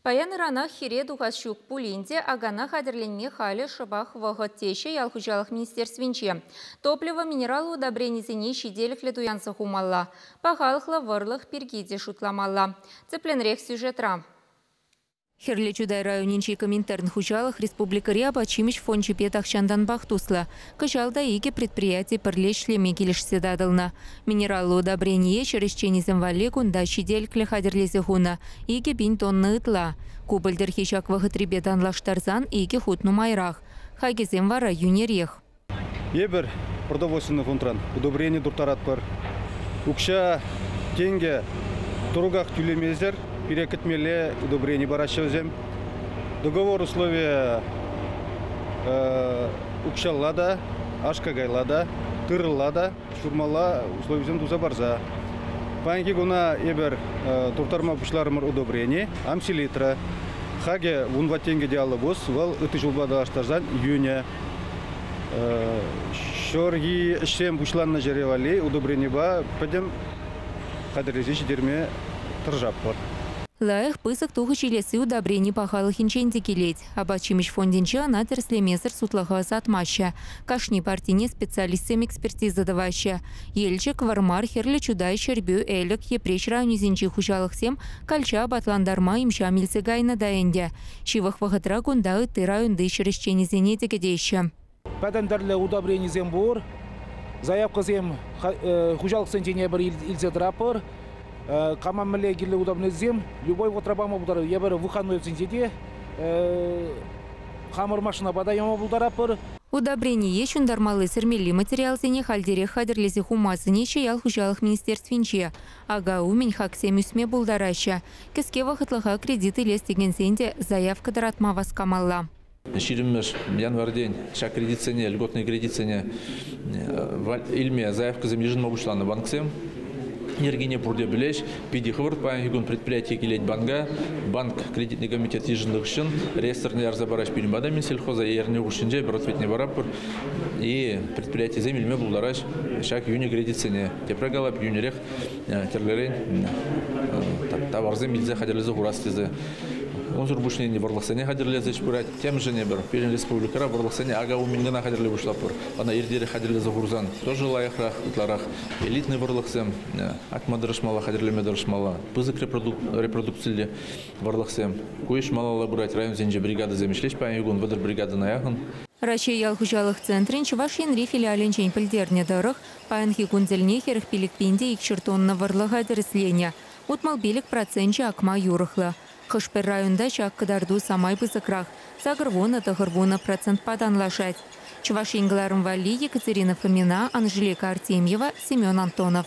Паян-ыранах хире тухас ҫук пулин те акана хатӗрленме халӗ шӑпах вӑхӑт, теҫҫӗ ял хуҫалӑх министерствинче. Топливо, минерал удобренисене ҫителӗклӗ туянса хумалла, пахалӑхлӑ вӑрлӑх пирки те шутламалла. Тӗплӗнрех сюжетра. Хӗрлӗ Чутай районӗнчи Коминтерн хуҫалӑх республикӑри апат-ҫимӗҫ фончӗпе тахҫантанпах туслӑ. Кӑҫал та икӗ предприяти пӗрле ӗҫлеме килӗшсе татӑлнӑ. Минераллӑ удобрение ҫӗр ӗҫченӗсем валли кунта ҫителӗклӗ хатӗрлесе хунӑ икӗ пин тонна ытла. Ку пӗлтӗрхи ҫак вӑхӑтрипе танлаштарсан икӗ хут нумайрах. Хакӗсем вара йӳнерех. Эпир продовольственнӑй фондран удобрени турттаратпӑр. Укҫа, тенкӗ тӑруках тӳлемесӗр пире кӗтмелле удобрени параҫҫӗ вӗсем. Договор условийӗ укҫалла та, аш-какайла та, тырӑлла та ҫурмалла условисем туса парса. Паянхи куна эпир турттарма пуҫларӑмӑр удобрени, амселитра. Хакӗ вун тенкӗ те аллӑ пус, вӑл ытти ҫулпа танлаштарсан йӳнӗ. Ҫурхи ӗҫсем пуҫланнӑ ҫӗре валли удобренипа пӗтӗм хатӗрлесе ҫитерме тӑрӑшатпӑр. Лайӑх пысӑк тухӑҫ илесси удобрени пахалӑхӗнчен те килет. Апат-ҫимӗҫ фондӗнче ӑна тӗрӗслемесӗр сутлӑха ӑсатмаҫҫӗ, кашни партине специалистсем экспертиза тӑваҫҫӗ. Елчӗк, Вӑрмар, Хӗрлӗ Чутай, Ҫӗрпӳ, Элӗк, Йӗпреҫ районӗсенчи хуҫалӑхсем калча апатлантарма имҫам илсе кайнӑ та ӗнтӗ. Ҫывӑх вӑхӑтра кунта ытти районти ҫӗр ӗҫченӗсене тӗкӗтеҫҫӗ. Пӗтӗм тӗрлӗ удобренисем пур. Заявкӑсем хуҫалӑхсен тенепӗр илсе тӑратпӑр. Кама мӗнле кирлӗ удобренисем любой вӑхӑтра пама пултаратпӑр. Эпир выходнойсенче те хамӑр машинапа та яма пултаратпӑр. Удобрение ҫунтармалли-сӗрмелли материалсене хальтерех хатӗрлесе хума сӗнеҫҫӗ ял хуҫалӑх министерствинче. Ака умӗн хаксем ӳсме пултараҫҫӗ. Кӗске вӑхӑтлӑха кредит илес текенсен те заявка тӑратма васкамалла. ҫирӗммӗш январьтен ҫак кредитсене, льготные кредитсене илме заявкӑсем йышӑнма пуҫланӑ банксем. Йӗркене пурте пӗлеҫ. Питӗ хӑвӑрт паянхи кун предприятие килет банка. Банк кредитный комитет йышӑннӑ хыҫҫӑн реестрне ярса параҫ пирӗн пата мен сельхоза ернӗ хушшинче пӗр ответне параппӑр и предприятисем илме пултараҫ ҫак йӳнӗ кредитсене. Тепре калап, йӳнӗрех тӗрлӗрен таварсем илсе хатӗрлесе хурас тесе Унсӑр пуҫне вӑрлӑхсене хатӗрлес ӗҫ пырать. Темшӗн эпир пирӗн республикӑра вӑрлӑхсене акауминкӑна хатӗрле пуҫлатпӑр. Ӑна иртерех хатӗрлесе хурсан тоже лайӑхрах, ытларах элитный вӑрлӑхсем акма тӑрӑшмалла, хатӗрлеме тӑрӑшмалла. Пысӑк репродукциллӗ вӑрлӑхсем. Ку ӗҫ малалла пырать. Районсенче бригадӑсем ӗҫлеҫ паянхи кун вӑтӑр бригадӑна яхӑн. Раҫҫей ял хуҫалӑх центрӗн Чӑваш Енри филиалӗнчен пӗлтернӗ тӑрӑх, паянхи кун тӗлне хӗрӗх пилӗкпин те икҫӗр тонна вӑрлӑха тӗрӗсленӗ. Утмӑл-пилӗк проценчӗ акма юрӑхлӑ. Хӑш-пӗр районта ҫак кӑтарту самай пысӑкрах, сакӑр вунӑ, тӑхӑр вунӑ процентпа танлашать. Чӑваш Ен кӑларӑм валли Екатерина Фомина, Анжелика Артемьева, Семен Антонов.